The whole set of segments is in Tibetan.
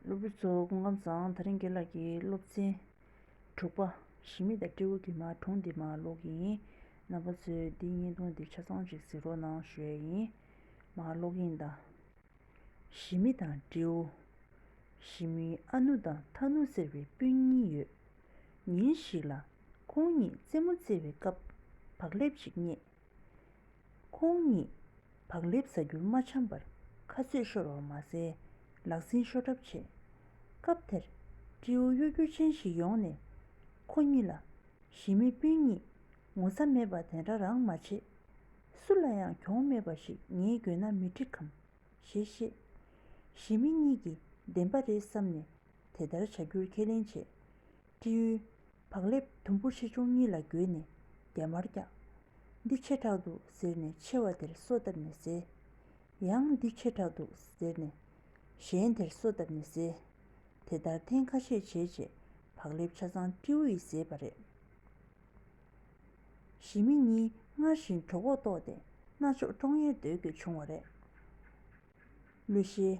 སློབ་བུ་ཚོ་སྐུ་ཁམས་བཟང་ད་རིང་དགེ་ལགས་ཀྱི་སློབ་ཚན་དྲུག་པ་ཞི་མི་དང་སྤྲེའུ་གི་མར་གྲོང་འདི་མ་ཀློག་གི་ཡིན། རྣམ་པ་ཚོས་འདི་བརྙན་ཐུང་འདི་ཆ་ཚང་ཞིག་གཟིགས་རོགས་གནང་ཞུས་ཡ་ཡིན། མ་ཀློག་གི་ཡིན་ད། ཞི་མི་དང་སྤྲེའུ། ཞི་མིའི་ཨ་ནུ་དང་ཐ་ནུ་ཟེར་བའི་སྤུན་གཉིས་ཡོད། ཉིན་ཞིག་ལ། ཁོང་གཉིས་རྩེད་མོ་རྩེ་བའི་སྐབས་བག་ལེབ་ཅིག་རྙེད། ཁོང་ཉིད་བག་ལེབ་བཟའ་རྒྱུར་མ་འཆམ་པར་ཁ་རྩོད་ཤོར་བ་མ་ཟད་ལག་ཟིན་ཤོར་གྲབས་བྱས། སྐབས་དེར་སྤྲེའུ་གཡོ་སྒྱུ་ཅན་ཞིག་ཡོང་ནས་ཁོ་གཉིས་ལ། གཞིས་མི་སྤུན་གཉིས་ངོ་ཚ་མེད་པ་དེ་འདྲ་རང་མ་བྱེད། སུ་ལ་ཡང་གྱོང་མེད་པ་ཞིག་ངའི་རྒྱུད་ན་མི་འགྲིག་གམ། ཞེས་བཤད། གཞིས་མི་གཉིས་ཀྱིས་བདེན་པ་རེད་བསམ་ནས་དེ་ལྟར་བྱ་རྒྱུར་ཁས་ལེན་བྱས། སྤྲེའུས། བག་ལེབ་དུམ་བུ་ཆེ་ཆུང་གཉིས་ལ་བསྒྱུར་ནས་རྒྱ་མར་བཀྱགས། འདི་ཆེ་དྲགས་འདུག་ཟེར་ནས་ཆེ་བ་དེར་སོ་བཏབ་ནས་བཟས། ཡང་འདི་ཆེ་དྲགས་འདུག་ཟེར་ནས། གཞན་དེར་སོ་བཏབ་ནས་བཟས། དེ་ལྟར་ཐེངས་ཁ་ཤས་བྱས་རྗེས་བག་ལེབ་ཆ་ཚང་སྤྲེའུ་ཡིས་བཟས་པ་རེད། ཞི་མི་གཉིས་སྔར་བཞིན་གྲོགས་འོག་ལྟོགས་ཏེ་རྣ་ཅོག་ཀྲོང་ཡེར་སྡོད་དགོས་བྱུང་བ་རེད། གླུ་གཞས།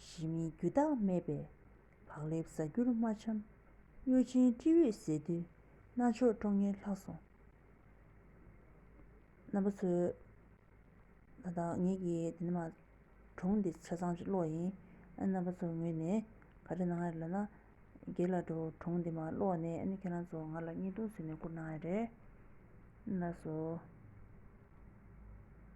ཞི་མིའི་རྒྱུ་དག་མེད་པས་བག་ལེབ་བཟའ་རྒྱུར་རྨ་འཆམ། གཡོ་ཅན་སྤྲེའུས་ཟས་བསྡུས་རྣ་ཆོག་སྤྲོ་ངན་ལྷག་སོང། རྣམ་པ་ཚོས། ད་ལྟ་ངེད་ཀྱི་དེ་ནི་མ། གྲོང་འདི་ཆ་ཚང་གཅིག་ཀློག་ཡིན། རྣམ་པ་ཚོ་ངོས་ནས་ག་རེ་གནང་ཡ་རེད་ལབ་ན། རྒྱལ་ལ་འགྲོ་གྲོང་འདི་མ་ཀློག་ནས་ཨ་ནི་ཁྱེད་རང་ཚོ་ང་ལ་བརྙན་ཐུང་བཟོས་ནས་བསྐུར་གནང་ཡ་རེད། ན་སོ།